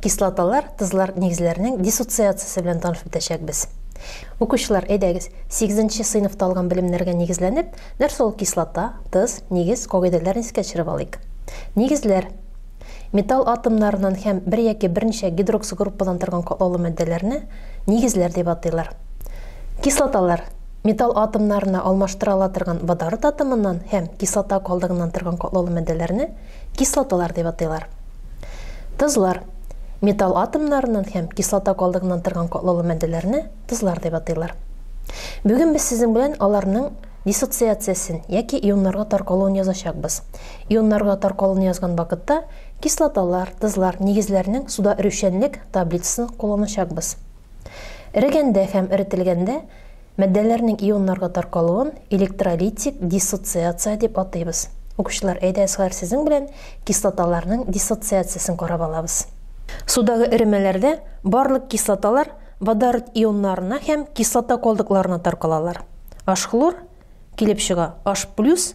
Кислоталар, тозлар нигезләренең диссоциациясе белән танышып үтәчәкбез. Укучылар, әйдәгез, сигезенче сыйныфта алган белемнәргә нигезләнеп, нәрсә ул кислота, тыз, нигез, кагыйдәләрен искә төшереп алыйк. Нигезләр. Металл атомнарыннан һәм бер яки берничә гидроксгруппадан торган катлаулы матдәләрне нигезләр дип атыйлар. Кислоталар. Металл атомнарына алмаштыра ала торган водород атомыннан һәм кислота калдыгыннан торган катлаулы матдәләрне Кислоталар дип атыйлар. Тозлар. Металл атомнарыннан һәм кислота калдыгыннан торган катлаулы матдәләрне тозлар дип атыйлар. Бүген без сезнең белән аларның диссоциациясен яки ионнарга таркалуын язачакбыз. Ионнарга таркалуны язган вакытта кислоталар, тозлар, нигезләрнең суда эрүчәнлек таблицасын кулланачакбыз. Эрегәндә һәм эретелгәндә Матдәләрнең ионнарга таркалуын электролитик диссоциация дип атыйбыз. Укучылар, әйдәгез хәзер сезнең белән кислоталарның диссоциациясен карап алабыз. Судагы эремәләрдә барлык кислоталар водород ионнарына һәм кислота калдыкларына таркалалар. H хлор килеп чыга, H плюс,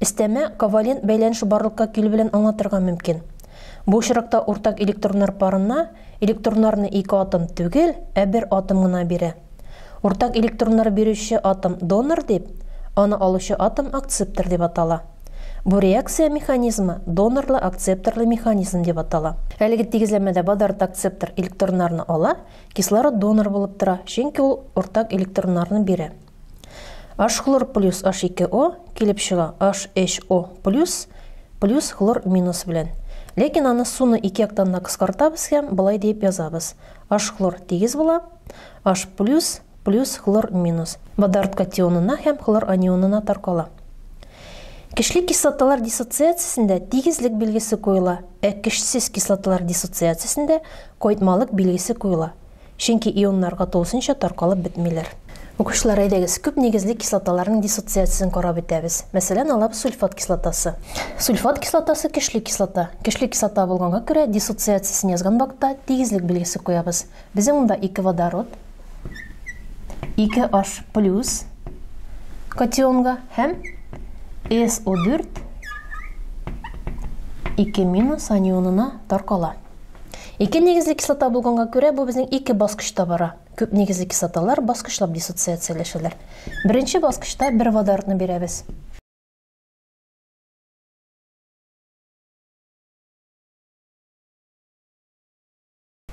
Өстәмә ковалент бәйләнеше барлыкка килү белән аңлатырга мөмкин. Бу очракта уртак электроннар парына электроннарны ике атом түгел, ә бер атом гына бирә. Уртак электроннар бирүче атом донор дип, аны алучы атом акцептор дип атала. Бу реакция механизмы донорлы-акцепторлы механизм дип атала. Әлеге тигезләмәдә водород акцептор электроннарны ала, кислород донор булып тора, чөнки ул уртак электроннарны бирә. H хлор плюс H2O килеп чыга HHO плюс плюс хлор минус белән. Ләкин аны суны ике яктан да кыскартабыз һәм былай диеп язабыз. H хлор тигез була. H плюс плюс хлор минус. Водород катионына һәм хлор анионына таркала. Кечле кислоталар диссоциациясендә тигезлек билгесе куела, ә кешсез кислоталар диссоциациясендә кайтмалык билгесе куела. Чөнки ионнарга тулысынча таркалып бетмиләр. Укучылар, әйдәгез, күп нигезле кислоталарның диссоциациясен карап үтәбез. Мәсәлән, алабыз сульфат кислотасы. Сульфат кислотасы, көчле кислота. Көчле кислота булганга күрә, диссоциациясен язган вакытта тигезлек билгесе куябыз. Безнең монда ике водород, ике H плюс катионга һәм SO4 ике минус анионына таркала. Ике нигезле кислота булганга күрә, бу безнең ике баскычта бара. Күп нигезле кислоталар баскычлап диссоциацияләшәләр. Беренче баскычта бер водородны бирәбез.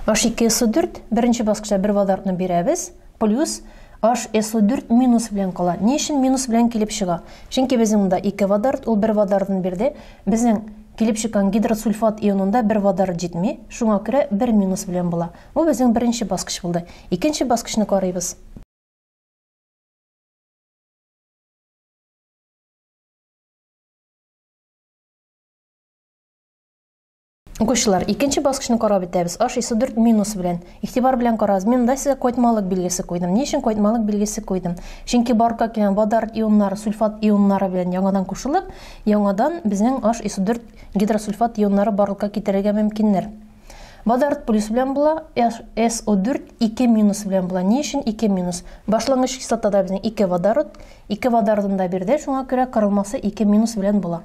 H2SO4, беренче баскычта бер водородны бирәбез. Плюс h so 4 минус белән кала. Ни өчен минус белән килеп чыга? Чөнки безнең монда 2 водород, ул 1 водородын бирде. Безнең килеп чыккан гидросульфат ионында 1 водород җитми, шуңа күрә 1 минус белән була. Бу безнең беренче баскыч булды. Икенче баскычны карыйбыз. Укучылар, икенче баскычны карап үтәбез. Аш исе 4 минус белән. Игътибар белән карагыз. Мин монда сезгә койтмалык билгесе куйдым. Ни өчен койтмалык билгесе куйдым? Чөнки барка килгән водород ионнары сульфат ионнары белән яңадан кушылып, яңадан безнең аш исе 4 гидросульфат ионнары барлыкка китерергә мөмкиннәр. Водород плюс белән була, SO4 2 минус белән була. Ни өчен 2 минус? Башлангыч кислотада безнең 2 водород, 2 водородында бирде, шуңа күрә кырылмасы 2 минус белән була.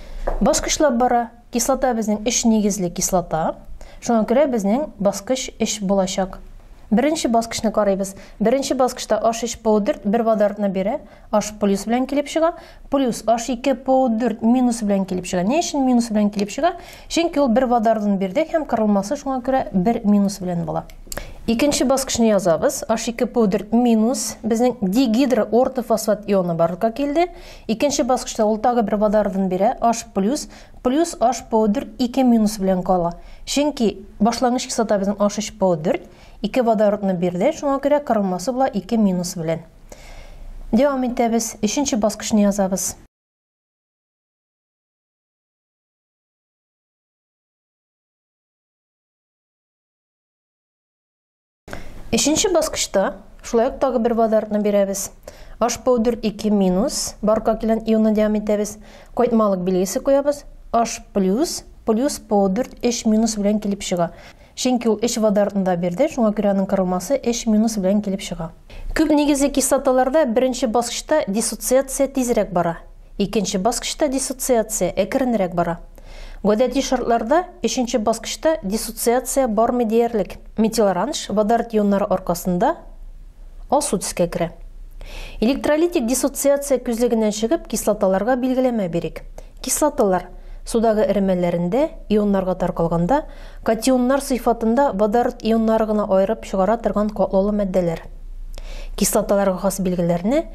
Баскычлап бара. Кислота безнең өч нигезле кислота. Шуңа күрә безнең баскыч өч булачак. Беренче баскычны карыйбыз. Беренче баскычта H3PO4 бер водородны бирә, H плюс белән килеп чыга, плюс H2PO4 минус белән килеп чыга. Ни өчен минус белән килеп чыга? Чөнки ул бер водородын бирде һәм кырылмасы шуңа күрә бер минус белән була. Икенче баскычны язабыз. H2PO4 минус безнең дигидроортофосфат ионы барлыкка килде. Икенче баскычта ул тагы бер водородын бирә, H плюс, плюс HPO4 ике минус белән кала. Чөнки башлангыч кислота безнең H3PO4, ике водородны бирде, шуңа күрә кырылмасы була ике минус белән. Дәвам итәбез, өченче баскычны язабыз. Өченче баскычта шулай ук тагы бер водородны бирәбез. H powder 2 минус, барка килгән ионны дәвам итәбез. Кайтмалык билгесе куябыз. H плюс, плюс powder 3 минус белән килеп чыга. Чөнки ул 3 водородны да бирде, шуңа күрә аның кырылмасы 3 минус белән килеп чыга. Күп нигезле кислоталарда беренче баскычта диссоциация тизрәк бара. Икенче баскычта диссоциация әкренрәк бара. Гадәти шартларда өченче баскычта диссоциация бармый диярлек. Метилоранж водород ионнары аркасында алсу төскә керә. Электролитик диссоциация күзлегеннән чыгып, кислоталарга билгеләмә бирик. Кислоталар, судагы эремәләрендә, ионнарга таркалганда, катионнар сыйфатында водород ионнары гына аерып чыгара торган катлаулы матдәләр. Кислоталарга хас билгеләрне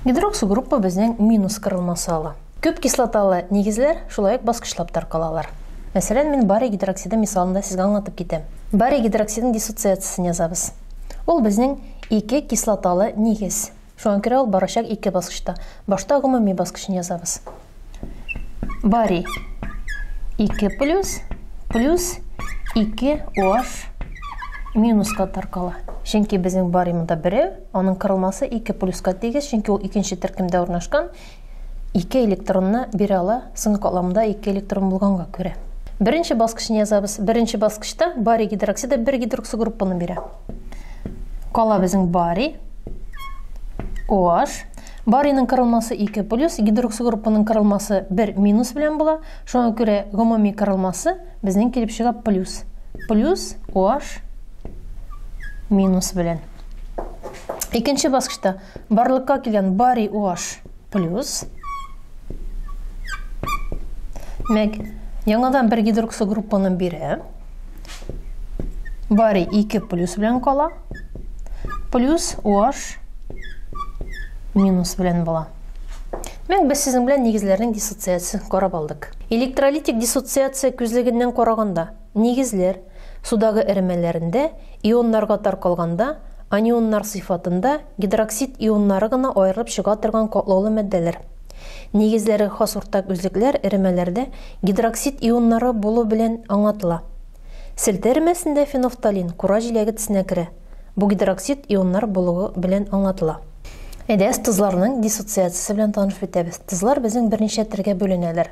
Гидроксогруппа безнең минус кырылмасы ала. Күп кислоталы нигезләр шулай ук баскычлап таркалалар. Мәсәлән, мин барий гидроксиды мисалында сезгә аңлатып китәм. Барий гидроксидын диссоциациясен язабыз. Ул безнең ике кислоталы нигез. Шуңа күрә ул барачак ике баскычта. Башта гомуми баскычны язабыз. Бари. 2 плюс плюс 2 OH минуска таркала. Чөнки безнең баримында берәү, аның кырылмасы 2 плюска тигез, чөнки ул икенче төркемдә урнашкан. Ике электронны бирә ала, соң катламда ике электрон булганга күрә. Беренче баскычны язабыз. Беренче баскычта барий гидроксиды бер гидроксигруппаны бирә. Кала безнең барий, OH. Барийның кырылмасы 2 плюс, гидроксигруппаның кырылмасы 1 минус белән була. Шуңа күрә гомуми кырылмасы безнең килеп чыга плюс. Плюс OH минус белән. Икенче баскычта барлыкка килгән барий OH плюс мәк яңадан бер гидроксо группаны бирә. Барий 2 плюс белән кала. Плюс OH минус белән була. Мәк без сезнең белән нигезләрнең диссоциациясен карап алдык. Электролитик диссоциация күзлегеннән караганда Нигезләр, судагы эремәләрендә ионнарга таркалганда, анионнар сыйфатында гидроксид ионнары гына аерылып чыга торган катлаулы матдәләр. Нигезләре хас уртак үзлекләр эремәләрдә гидроксид ионнары булу белән аңлатыла. Селтә эремәсендә фенофталин кура җиләге тсенә керә, бу гидроксид ионнар булуы белән аңлатыла. Әйдәгез тозларның диссоциациясе белән танышып үтәбез. Тозлар безнең берничә төргә бүленәләр.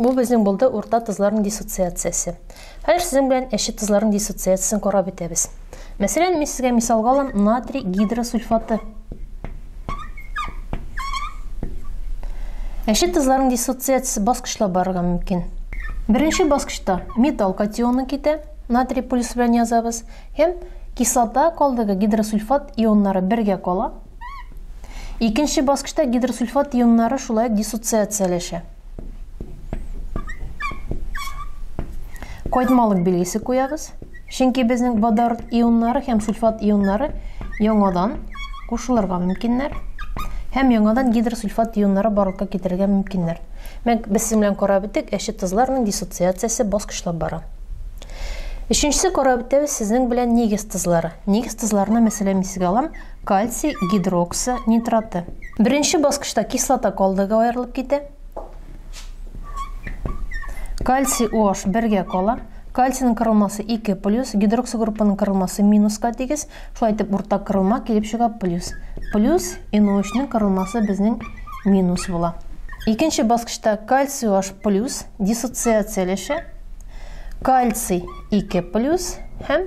Бу безнең булды урта тозларның диссоциациясе. Хәзер сезнең белән әче тозларның диссоциациясен карап үтәбез. Мәсәлән, мин сезгә мисалга алам натрий гидросульфаты. Әче тозларның диссоциациясе баскычлап барырга мөмкин. Беренче баскычта металл катионы китә, натрий полюсы белән язабыз, һәм кислота калдыгы гидросульфат ионнары бергә кала, Икенче баскычта гидросульфат ионнары шулай диссоциацияләшә. Кайтмалык билгесе куябыз. Чөнки безнең водород ионнары һәм сульфат ионнары яңадан кушылырга мөмкиннәр һәм яңадан гидросульфат ионнары барлыкка китерергә мөмкиннәр. Мәк, без синең белән карап үттек, әче тозларның диссоциациясе баскычлап бара. Өченчесе карап үтәбез сезнең белән нигез тозлары. Нигез тозларына мәсәлән мин сезгә алам Кальций гидроксы нитраты. Беренче баскычта кислота калдыгы аерылып китә. Кальций OH бергә кала. Кальцийның кырылмасы 2 плюс, гидроксы группаның кырылмасы минуска тигез. Шулай итеп уртак кырылма килеп чыга плюс. Плюс NO3-ның кырылмасы безнең минус була. Икенче баскычта кальций OH плюс диссоциацияләшә. Кальций 2 плюс һәм